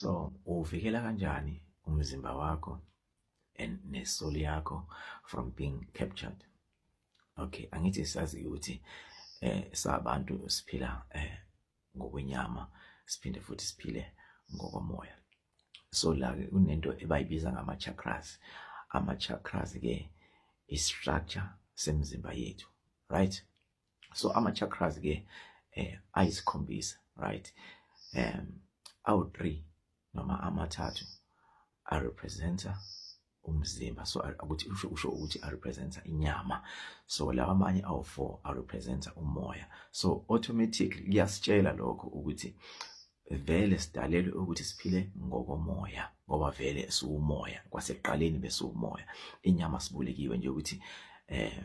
So uvikela kanjani umzimba wakho and nesoul yakho from being captured. Okay, angithi sazi ukuthi eh sabantu siphila eh ngokwenyama siphinde futhi siphile ngokomoya. So la ke kunento ebayibiza ngama chakras. Ama chakras ke i structure semzimba yethu, right? so ama chakras ke eh ayisikhombisa right um awu 3 noma amathathu a representer umzimba so ukuthi usho usho ukuthi a representer inyama so lawa amanye awu 4 a representer umoya so automatically kuyasitshela lokho ukuthi vele sidalelwe ukuthi siphile ngokomoya ngoba vele siwumoya kwasekuqaleni besiwumoya inyama sibulekiwe nje ukuthi eh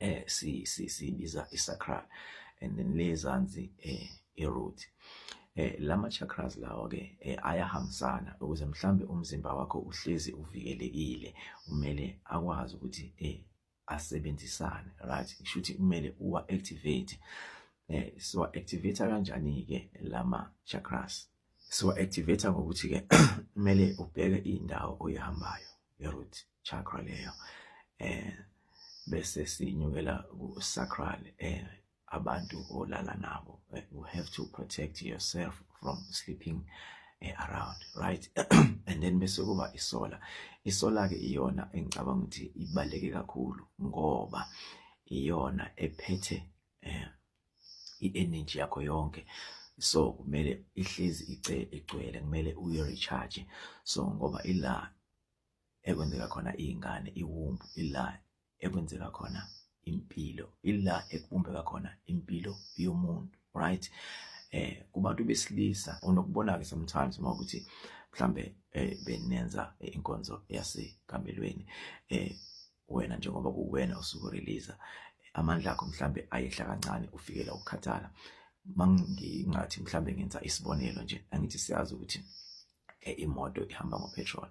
eh si si sibiza isacral and then le zansi eh iroot eh lama chakras lawo ke eh, ayahambisana ukuze mhlambe umzimba wakho uhlezi uvikelekile umele akwazi ukuthi eh asebenzisane right kushuthi kumele uwa activate eh siwa activate kanjani ke lama chakras siwa-activate ngokuthi-ke kumele ubheke indawo oyihambayo i-root chakra leyo eh bese sinyukela ku-sacral eh abantu olala nabo eh, you have to protect yourself from sleeping eh, around right and then bese kuba isola isola-ke iyona engicabanga ukuthi ibaluleke kakhulu ngoba iyona ephethe um i-energy yakho yonke so kumele ihlezi igcwele kumele uyi-recharge so ngoba ila ekwenzeka khona iy'ngane iwumbu ila ekwenzeka khona impilo ila ekubumbeka khona impilo yomuntu right eh kubantu besilisa onokubona-ke sometimes uma ukuthi mhlambe eh benenza inkonzo yasekamelweni eh wena njengoba kuwena osuku release amandla akho mhlambe ayehla kancane ufikela ukukhathala mangingathi mhlambe ngenza isibonelo nje angithi siyazi ukuthi eh, imoto ihamba ngopetrol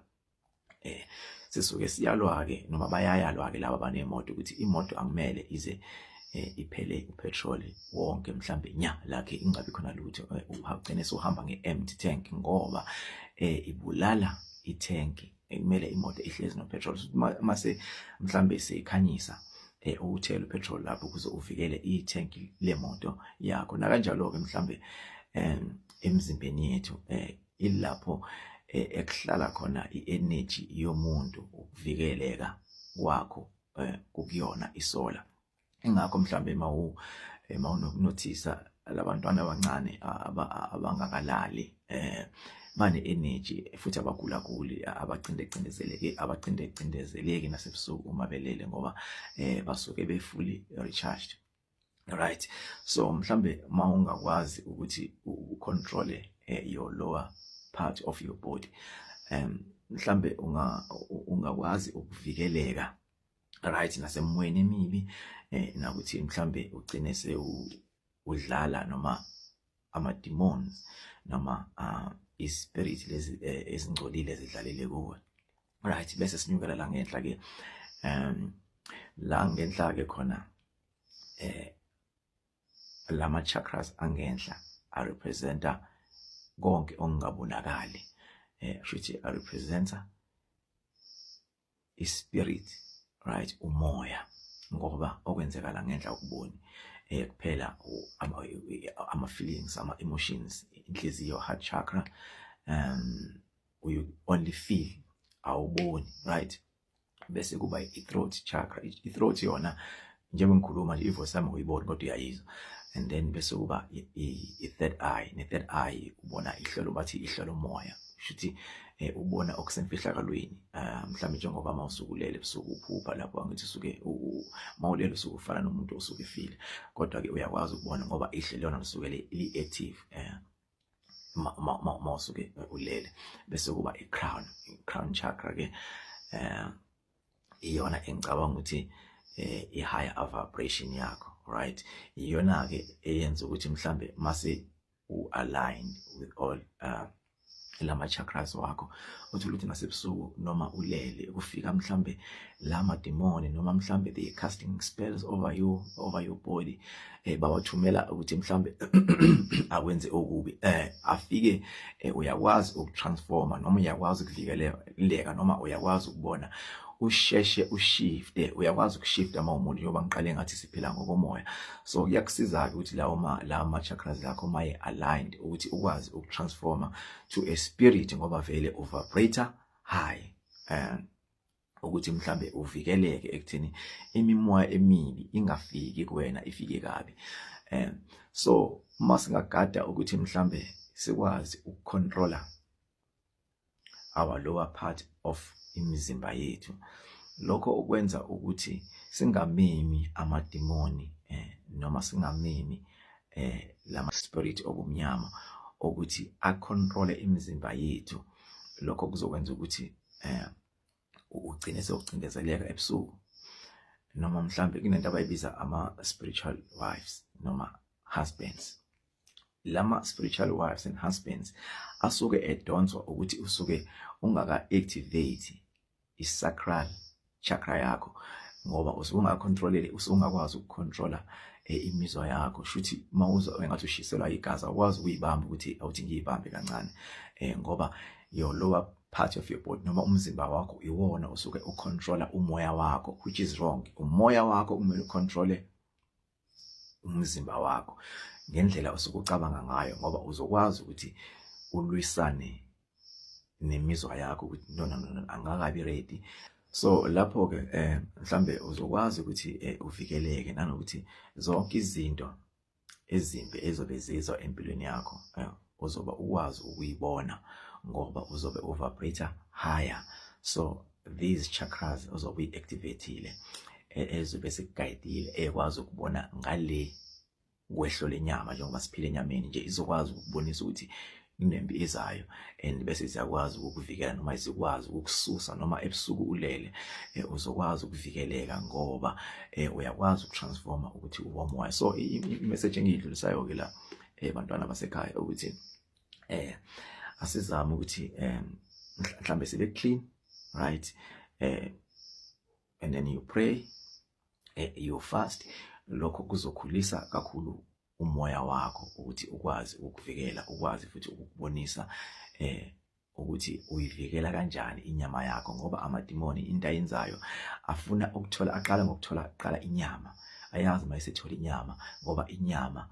eh sisuke siyalwa ke noma bayayalwa ke laba banemoto ukuthi imoto akumele ize eh, iphele upetrol wonke mhlambe nya lakhe ingabi khona lutho eh, uhagcine sohamba ngeempty tank ngoba eh ibulala ithenki ekumele imoto ihlezi no petrol mase mhlambe seyikhanyisa eh uthela upetrol lapho ukuze uvikele i-tank lemoto yakho nakanjalo ke mhlambe em emzimbeni yethu eh ilapho eh, ekuhlala khona i-energy yomuntu ukuvikeleka kwakho eh, kukuyona isola ingakho mhlawumbe uma u uma unokunothisa labantwana abancane abangakalali eh bane energy futhi abagula guli abacinde cindezeleke abacinde cindezeleki nasebusuku uma belele ngoba eh basuke befully recharged right so mhlambe uma ungakwazi ukuthi ucontrol eh, your lower part of your body um mhlambe unga ungakwazi ukuvikeleka right nasemoyeni emibi eh nakuthi mhlambe ugcine sewu udlala noma ama demons noma uh, i spirit lezi eh, ezingcolile zidlalele kuwe right bese sinyukela la ngenhla ke um la ngenhla ke khona eh lama chakras angenhla a representa konke okungabonakali eh shuthi a representa ispirit right umoya ngoba okwenzeka la ngenhla ukuboni eh kuphela ama ama feelings ama emotions inhliziyo heart chakra um you only feel awuboni right bese kuba i-throat chakra i-throat yona njengoba ngikhuluma nje ivoice yami uyiboni kodwa uyayizwa and then bese kuba i-third eye ne-third eye ubona ihlelo bathi ihlelo moya shuthi eh, ubona okusemfihlakalweni ah, mhlawumbe njengoba uma usukulele ebusuku uphupha lapho angithi usuke mawulele usuke ufana nomuntu osuke efile kodwa-ke uyakwazi ukubona ngoba ihle lona lisuke li-active um eh, uma usuke ulele bese kuba i-crown i-crown chakra-ke um iyona engicabanga ukuthi eh i higher vibration yakho right iyona ke eyenza ukuthi mhlambe mase u align with all uh, lama chakras wakho uthola ukuthi nasebusuku noma ulele kufika mhlambe lama demoni noma mhlambe they casting spells over you over your body eh bawathumela ukuthi mhlambe akwenze okubi eh afike eh, uyakwazi ukutransforma noma uyakwazi ukuvikeleka noma uyakwazi ukubona usheshe ushifte uyakwazi ukushifta uma umuntu njengoba ngiqale ngathi siphila ngokomoya so kuyakusiza-ke ukuthi lawo ma lawo ma-chakras lakho maye aligned ukuthi ukwazi ukutransforma to a spirit ngoba vele uvibrator high um ukuthi mhlambe uvikeleke ekuthini imimoya emibi ingafiki kuwena ifike kabi um so uma singagada ukuthi mhlambe sikwazi ukucontroller our lower part of imizimba yethu lokho okwenza ukuthi singamemi amadimoni eh, noma singamemi eh, lama spirit obumnyama ukuthi acontrole imizimba yethu lokho kuzokwenza ukuthi eh, ugcine sewucindezeleka ebusuku noma mhlambe kunento abayibiza ama-spiritual wives noma husbands lama spiritual wives and husbands asuke edonswa ukuthi usuke ungaka activate isacral chakra yakho ngoba usuke ungacontrolele usuke ungakwazi ukucontrola eh, imizwa yakho shuthi mawuza engathi ushiselwa igazi awukwazi ukuyibamba ukuthi awuthi ngiyibambe kancane eh ngoba your lower part of your body noma umzimba wakho iwona osuke ucontrola umoya wakho which is wrong umoya wakho kumele ucontrole umzimba wakho ngendlela osuke ucabanga ngayo ngoba uzokwazi ukuthi ulwisane nemizwa yakho ukuthi no no no angakabi ready so lapho ke eh mhlambe uzokwazi ukuthi eh, uvikeleke nanokuthi zonke izinto ezimbi ezobe zizwa empilweni yakho eh, uzoba ukwazi ukuyibona ngoba uzobe uvibrate higher so these chakras uzobe uyi-activatile e, ezobe sikugayidile ekwazi ukubona ngale kwehlo lenyama njengoba siphila enyameni nje izokwazi ukubonisa ukuthi inempi izayo and bese siyakwazi ukukuvikela noma izikwazi ukukususa noma ebusuku ulele eh, uzokwazi ukuvikeleka ngoba eh, uyakwazi ukutransforma ukuthi uwomoya so imessage engiyidlulisayo ke la eh, bantwana basekhaya ukuthi eh asizame ukuthi eh mhlambe sibe clean right eh and then you pray eh, you fast lokho kuzokhulisa kakhulu umoya wakho ukuthi ukwazi ukukuvikela ukwazi futhi ukukubonisa eh ukuthi uyivikela kanjani inyama yakho ngoba amadimoni into ayenzayo afuna ukuthola aqala ngokuthola qala inyama ayazi uma esethola inyama ngoba inyama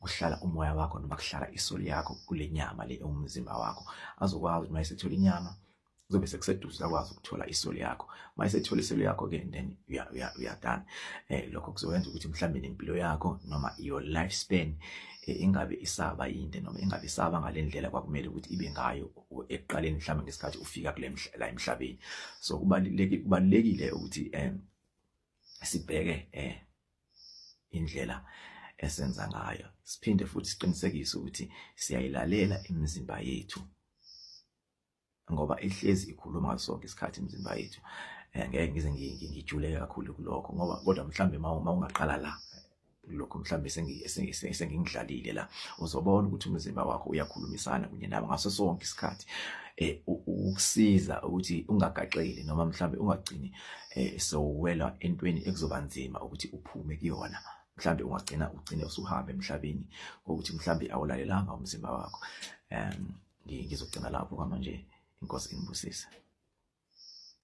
kuhlala umoya wakho noma kuhlala isoli yakho kule nyama le ewumzimba wakho azokwazi uma esethola inyama kuzobe sekuseduze akwazi ukuthola isoli yakho uma esethola isoli yakho ke then uyadana eh lokho kuzokwenza ukuthi mhlawumbe nempilo yakho noma your life span eh, ingabe isaba yinde noma ingabe isaba ngalendlela kwakumele ukuthi ibe ngayo ekuqaleni mhlawumbe ngesikhathi ufika kule la emhlabeni so kubalulekile kubalulekile ukuthi eh sibheke eh indlela esenza ngayo siphinde futhi siqinisekise ukuthi siyayilalela imizimba yethu ngoba ihlezi ikhuluma ngaso sonke isikhathi imizimba yethu eh, ngeke ngize ngijuleke kakhulu kulokho ngoba kodwa mhlambe uma ungaqala la lokho mhlambe sengingidlalile la uzobona ukuthi umzimba wakho uyakhulumisana kunye nabo ngaso sonke isikhathi eh ukusiza ukuthi ungagaxeli noma mhlambe ungagcini eh sowela entweni ekuzoba nzima ukuthi uphume kuyona mhlambe ungagcina ugcine usuhambe emhlabeni ngokuthi mhlambe awulalelanga umzimba wakho um ngizogcina lapho kwamanje inkosi inibusise